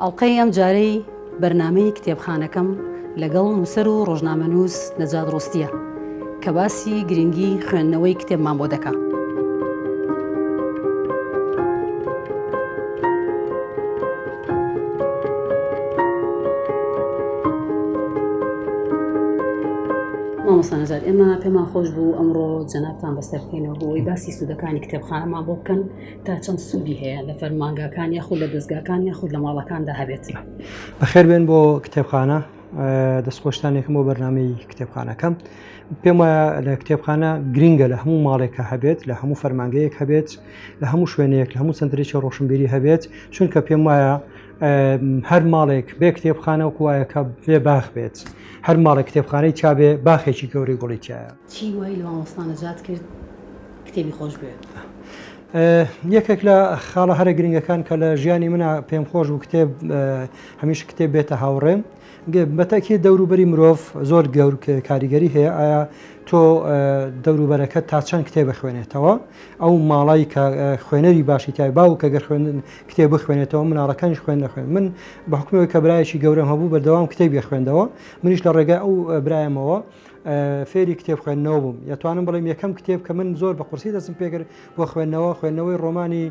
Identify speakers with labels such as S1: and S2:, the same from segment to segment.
S1: ئەڵقەی ئەم جارەی بەرنمەی کتێبخانەکەم لەگەڵ نووسەر و ڕۆژنامەنووس نەجات ڕۆستیە کە باسی گرنگی خوێندنەوەی کتێبمان بۆ دەکات. مامۆستا نەجات ئێمە پێمان خۆش بوو ئەمڕۆ جەنابتان بەسەرکەینەوە بۆی باسی سوودەکانی کتێبخانەمان بۆ بکەن تا چەند سوودی هەیە لە فەرمانگاکان یاخود لە دەستگاکان یاخود لە ماڵەکاندا هەبێت بەخێر بێن
S2: بۆ کتێبخانە دەستخۆشتانێکم بۆ بەرنمەی کتێبخانەکەم پێم وایە لە کتێبخانە گرنگە لە هەموو ماڵێکە هەبێت لە هەموو فەرمانگەیەک هەبێت لە هەموو شوێنێک لە هەموو سنترێکی ڕۆشنبیری هەبێت چونکە پێم وایە هەر ماڵێک بێ کتێبخانە و کوایەکە بێ باخ بێت هەر ماڵێک کتێبخانەی چاابێ باخێکی گەوری گوڵی تایە چی وای لە مامۆستانە
S1: جات کرد کتێبی خۆش بێ.
S2: یەکێک لە خاڵە هەرە گرنگەکان کە لە ژیانی منە پێم خۆش و کتێب هەمیش کتێب بێتە هاوڕێم بەتەئکید دەوروبەری مرۆڤ زۆر کاریگەری هەیە ئایا تۆ دەوروبەرەکەت تا چەند کتێب بخوێنێتەوە ئەو ماڵی کە خوێنەری باشی تای باو کە گەر خوێن کتێب بخوێنێتەوە مناڵەکانیش خوێن نەخوێن من بە حکومەوەی کە برایشی گەورەم هەبوو بەردەوام کتێبی خوێندەوە منیش لە ڕێگای ئەو برایەمەوە فێری کتێب خوێندنەوە بووم یتوانم بڵێم یەکەم کتێب کە من زۆر بە قورسی دەستم پێکرد بۆ خوێندنەوە خوێندنەوەی ڕۆمانی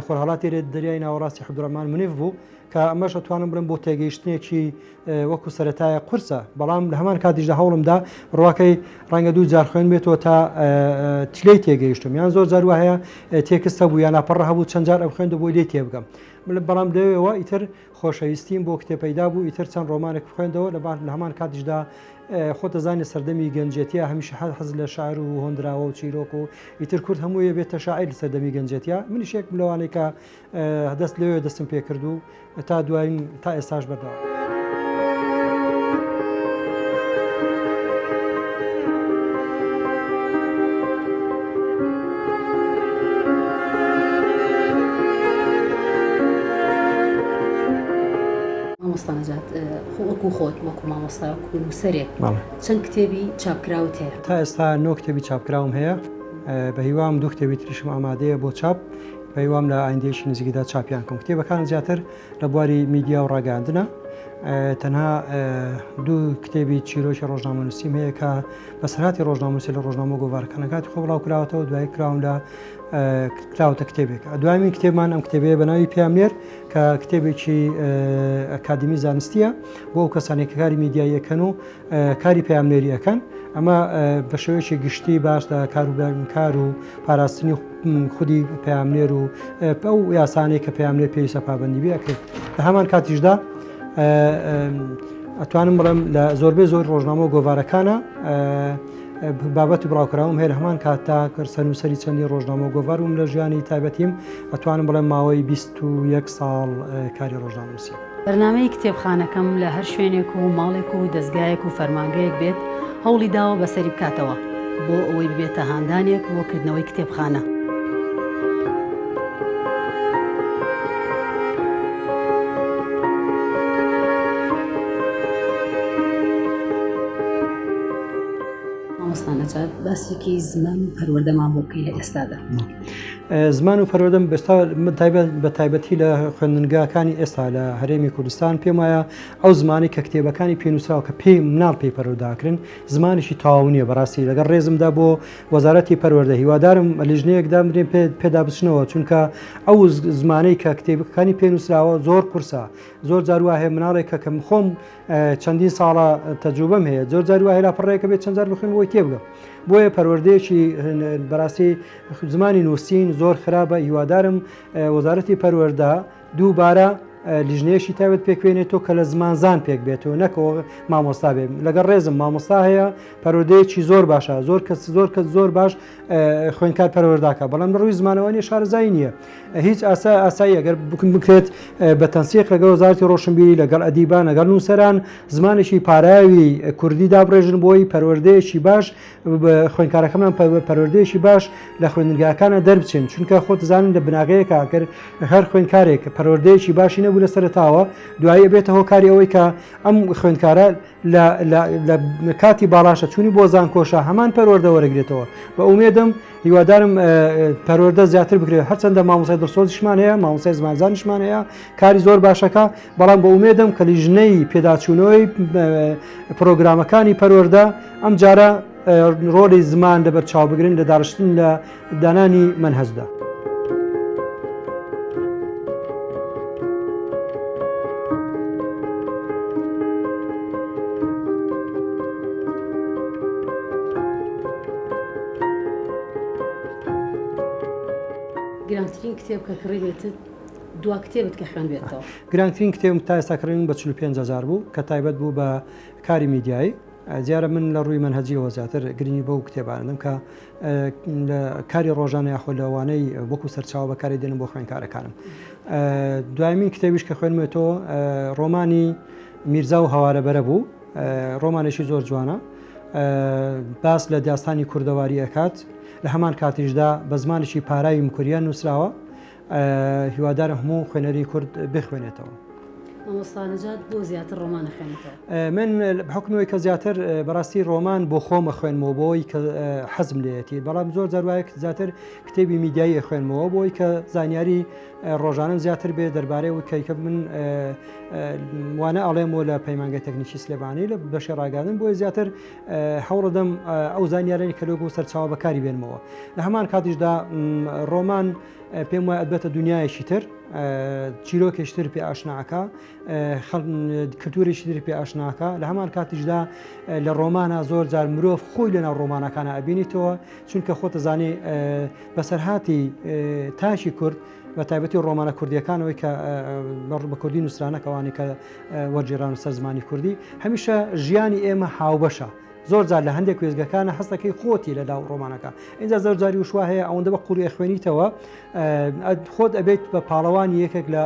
S2: خۆرهڵاتی لێت دەریای ناوەڕاستی حەبدڕمان منیف بوو کە ئەمەش ئەتوانم بڵێم بۆ تێگەیشتنێکی وەکو سەتایە قورسە بەڵام لە هەمان کاتیشدا هەوڵمدا ڕواکەی ڕەنگە دوو جار خوێن بێتەوە تا تلەی تێگەیشتم یان زۆر جار وهەیە تێکستە بوو یان ناپەڕ هەبوو چەند جار ئەم خوێندە بۆی لێ تێبگەم بەڵام لەوێەوە ئیتر خۆشەویستیم بۆ کتێ پەیدا بوو ئیتر چەند ڕۆمانێک خوێندەوە لە بار لە هەمان کاتیشدا خۆتەزانانی سەردەمی گەنجێتیە هەمیشە هەر حەز لە شار و هۆندراوە و چیرۆک و ئیتر کورد هەموویە بێتە شاعیر سەردەمی گەنجێتە منیشێک لەوانێکە دەست لەوێ دەستم پێ کرد و تا دوایین تا ئێستاش بەردەوام.
S1: خۆت وەکو مامۆستا نووسەرێک چەند کتێبی چاپکراوت هەیە تا ئێستا نۆ کتێبی
S2: چاپکراوم هەیە بە هیوام دوو کتێبی تریشم ئامادەیە بۆ چاپ هیوام لە ئایندەیەکی نزیکدا چاپیان بکەم کتێبەکانم زیاتر لە بواری میدیا و ڕاگەاندنە تەنها دوو کتێبی چیرۆکی ڕۆژنامەنووسیم هەیە کە بەسەرهاتی ڕۆژناموسی لە ڕۆژنامە گۆڤارەکانەکاتی خۆ بڵاو کراوەتەوە دوای کراون لە کراوتە کتێبێک دوایین کتێبمان ئەم کتێبێ بە ناوی پیامێر کە کتێبێکی ئەکادمی زانستیە بۆ ئەو کەسانێکەکاری میدیاییەکەن و کاری پەیامنێری ئەکەن ئەمە بە شێوەیەکی گشتی باش لە کاروبارکار و پاراستنی خودی پەیامنێر و پە و یاسانەی کە پەیامنێر پێویستە پابندی بکرێت لە هەمان کاتیشدا ئەتوانم بڵێم لە زۆربەی زۆر ڕۆژنامە و گۆوارەکانە بابەت و بڵاوکراوم هێر هەمان کات تا کرد سەنووسری چەندی ڕۆژنامە و گۆوارم لە ژیانی تایبەتیم ئەتوانم بڵێم ماوەی 21 ساڵ کاری ڕۆژناموسی. بەرنامەی
S1: کتێبخانەکەم لە هەر شوێنێک و ماڵێک و دەزگایەک و فەرمانگەیەک بێت هەوڵی داوە بەسەری بکاتەوە بۆ ئەوەی ببێتە هاندانێک بۆ کردنەوەی کتێبخانە. مامۆستا نەجات باسێکی زمان و پەروەردەمان بۆ بکەی لە ئێستادا.
S2: زمان و پەروەردەم بەستا بە تایبەتی لە خوێندنگاکانی ئێستا لە هەرێمی کوردستان پێم وایە ئەو زمانی کە کتێبەکانی پێنووسراوە کە پێی مناڵ پێی پەرۆداکرن زمانیشی تاو نییە بەڕاستی لەگەڵ ڕێزمدا بۆ وەزارەتی پەروەەردە هیوادارم لیژنەیەکدا مرێن پێ پێدا بچنەوە چونکە ئەو زمانەی کە کتێبەکانی پێنووسراوە زۆر قورسە زۆر جاروا هەیە مناڵێک کە کەم خۆم چەندین ساڵە تەجوبم هەیە زۆر جاروا هێلا پڕێکە بێت چەند جار بخوێن بۆی تێبگەم بۆیە پەروەردەیەکی بەڕاستی زمانی نووسین زۆر خراپە هیوادارم وەزارەتی پەروەەردە دووبارە لیژنەیەشی تاوێت پێکوێنێتەوە کە لە زمانزان پێک بێتەوە نەکەەوە مامۆستا بێ لەگەڵ ڕێزم مامۆستا هەیە پەرۆدەیەکی زۆر باشە زۆر کەس زۆر کەس زۆر باش خوێنکار پەروەرداکە بەڵام ڕووی زمانەوانی شارزای نییە هیچ ئاسا ئاسایی ئەگەر بکن بکرێت بە تەنسیق لەگە وەزارتی ڕۆشنبیری لەگەڵ ئەدیبان لەگەڵ نووسەران زمانێکی پاراوی کوردی دابڕێژن بۆی پەروەردەیەکی باش خوێندکارەکەمان پەروەردەیەکی باش لە خوێندنگاکانە دەربچێن چونکە خۆ دەزانن لە بناغەیە کاکەر هەر خوێندکارێک پەروەردەیەکی باشی نەبوو لە سەرتاوە دوایی بێتە هۆکاری ئەوەی کە ئەم خوێندکارە لە کاتی باڵاشە چوونی بۆ زانکۆشە هەمان پەروەردە وەرەگرێتەوە بە ئومێدەم هیوادارم پەروەردە زیاتر بکرێت هەرچەندە مامۆسای دڵسۆزیشمان هەیە مامۆسای زمانزانشمان هەیە کاری زۆر باشەکە بەڵام بە ئومێدم کە لیژنەی پێداچوونەوەی پرۆگرامەکانی پەروەەردە ئەم جارە ڕۆلی زمان لەبەر چاوبگرن لە داڕشتن لە دانانی منهزدا. گرانترین
S1: کتێب کە کڕیبێتت دوا کتێبت کە خوێندوێتەوە؟ گرانترین کتێبم تا
S2: ئێستا کڕیوم بە چل و پێنج هەزار بوو کە تایبەت بوو بە کاری میدیایی دیارە من لە ڕووی مەنهەجیەوە زیاتر گرنگی بەو کتێبانم کە لە کاری ڕۆژانە یاخۆ لەوانەی وەکو سەرچاو بەکاری دێنم بۆ خوێنکارەکانم دوایمین کتێبیش کە خوێنمێتەوە ڕۆمانی میرزا و هەوارەبەرە بوو ڕۆمانێکی زۆر جوانە باس لە داستانی کوردەواری ئەکات لە هەمان کاتیشدا بە زمانێکی پاراوی مکوریان نووسراوە هیوادارم هەموو خوێنەری کورد بخوێنێتەوە. مامۆستا
S1: نەجات بۆ زیاتر ڕۆمان نەخوێنێتەوە؟ من بە
S2: حوکمی ئەوەی کە زیاتر بەڕاستی ڕۆمان بۆ خۆم ئەخوێنمەوە بۆ ئەوەی کە حەزم لێیەتی، بەڵام زۆر جار وایە کە زیاتر کتێبی میدیایی ئەخوێنمەوە بۆ ئەوەی کە زانیاری ڕۆژانەم زیاتر بێ دەربارەی ئەوەی کە من وانە ئەڵێم و لە پەیمانگەی تەکنیکی سلێمانی لە بەشی ڕاگەیاندن بۆیە زیاتر هەوڵەدەم ئەو زانیارانی کە لۆگەوە سەرچاوە بەکاری بێنمەوە لە هەمان کاتیشدا ڕۆمان پێم وایە ئەبێتە دنیایەکی تر چیرۆکێشتر پێ ئاشناکە کلتورێکی تر پێ ئاشناکە لە هەمان کاتیشدا لە ڕۆمانە زۆر جار مرۆڤ خۆی لەناو ڕۆمانەکانە ئەبینیتەوە چونکە خۆتە زانێ بەسەرهاتی تاشی کورد بە تایبەتی ڕۆمانە کوردیەکانەوەی کە بە کوردی نووسرانەکەوانی کە وەرگێڕان و سەر زمانی کوردی هەمیشە ژیانی ئێمە هاوبەشە زۆر جار لە هەندێک کوێزگەکانە هەستەکەی خۆتی لە داو ڕۆمانەکە اینجا زۆر جاری وشوا هەیە ئەوەندە بە قوڵی خوێنیتەوە خۆت ئەبێت بە پاڵەوانی یەکێک لە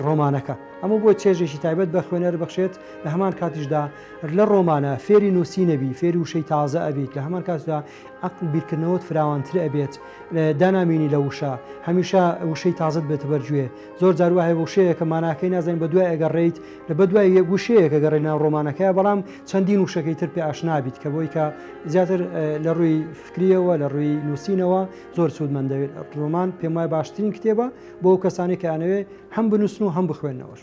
S2: ڕۆمانەکە ئەمە بۆ چێژێکی تایبەت بە خوێنەر بخشێت لە هەمان کاتیشدا لە ڕۆمانە فێری نووسی نەبی فێری وشەی تازە ئەبیت لە هەمان کاتدا ئەقل بیرکردنەوەت فراوانتر ئەبێت دانامینی لە وشە هەمیشە وشەی تازت بێتە بەرگوێ زۆر جار وا هەیە وشەیەکە ماناکەی نازانین بە دوای ئەگەڕێیت، لە بە دوای یەک وشەیەک ئەگەڕێیت ناو ڕۆمانەکەیا بەڵام چەندین وشەکەی تر پێ ئاشنا بیت کە بۆی کە زیاتر لە ڕووی فکرییەوە لە ڕووی نووسینەوە زۆر سوودمەند دەبێت. ڕۆمان پێم وایە باشترین کتێبە بۆ ئەو کەسانەی کە ئەیانەوێت هەم بنووسن و هەم بخوێننەوەش.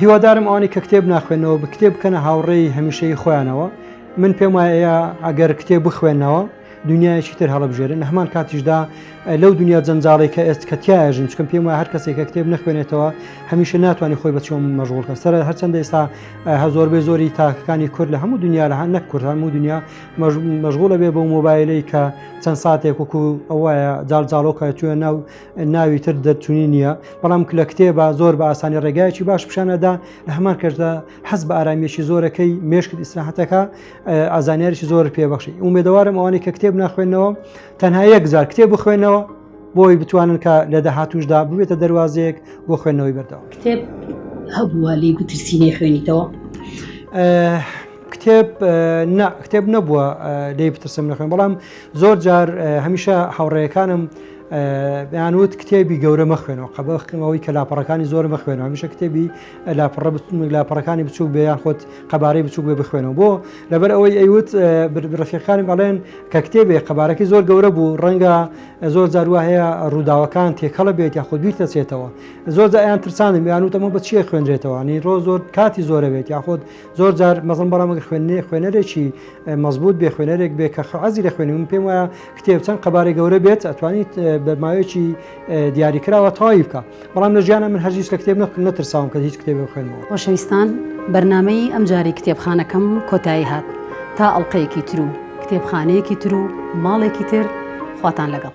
S2: هیوادارم ئەوانەی کە کتێب ناخوێنەوە بە کتێب بکەنە هاوڕێی هەمیشەی خۆیانەوە من پێم وایە ئەگەر کتێب بخوێنەوە دنیایەکی تر هەڵبژێرن هەمان کاتیشدا لەو دنیا جەنجاڵی کە ئێست کەتیایژن چکم پێم وە هەر کەسێکە کتێب نخوێنێتەوە هەمیشە ناتوانانی خۆی بە چۆم مەژغولکە سەر هەرچەندە ئێستا هەزۆر بێ زۆری تاکەکانی کورد لە هەموو دنیا لە هەن نەک کورد هەموو دنیا مەژغولە بێ بە مۆبایلەی کە چەند ساتێک وکو ئەوە جاڵجاڵۆکە توێ ناو ناوی تر دەرچوونی نییە بەڵام کلە کتێبە زۆر بە ئاسانی ڕێگایەکی باش پیشانەدا لە هەمان کەشدا حەز بە ئارامیەکی زۆرەکەی مێشکت ئیسراحەتەکە ئازانیارێکی زۆر پێبخشی ئومێدەوارم ئەوانی کە کتێب ناخوێنەوە تەنها یەک جار کتێب بخوێنەوە بۆی بتوانن کە لە داهاتوشدا ببێتە دەواازەیەک بۆ خوێندنەوەی بەردەوە کتێب
S1: هەبووە لی بترسینەی خوێنیتەوە
S2: کتێب کتێب نەبووە لی بترسم نەخێن بەڵام زۆر جار هەمیشە هاوڕێیەکانم یان وت کتێبی گەورە مەخوێنەوە قەبەخکەمەوەی کە لاپەڕەکانی زۆر مەخوێنەوە هەمیشە کتێبی لاپەڕە لاپەڕەکانی بچوک بێ یان خۆت قەبارەی بچوک بێ بخوێنەوە بۆ لەبەر ئەوەی ئەیوت ڕفیقانم ئەڵێن کە کتێبێ قەبارەکەی زۆر گەورە بوو ڕەنگە زۆر جاروا هەیە ڕووداوەکان تێکەڵە بێت یا خۆ بیر دەچێتەوە زۆر ئەیان ترسانم یان وتەمە بە چیە خوێنرێتەوەنی ڕۆ زۆر کاتی زۆرە بێت یاخۆت زۆر جار مەزن بەڵام ئەگەر خوێندنی خوێنەرێکی مەزبوط بێ خوێنەرێک بێ کە خەعازی لە خوێنی من پێم وایە کتێب چەند قەبارەی گەورە بێت ئەتوانیت بە ماوەیەکی دیاری کراوە تەواوی بکە بەڵام لە ژیانە من هەرگیز لە کتێب نەکرد نەترساوم کە هیچ کتێبی خوێنمەوە خۆشەویستان
S1: بەرنامەی ئەمجاری کتێبخانەکەم کۆتایی هات تا ئەڵلقەیەکی تر و کتێبخانەیەکی تر و ماڵێکی تر خواتان لەگەڵ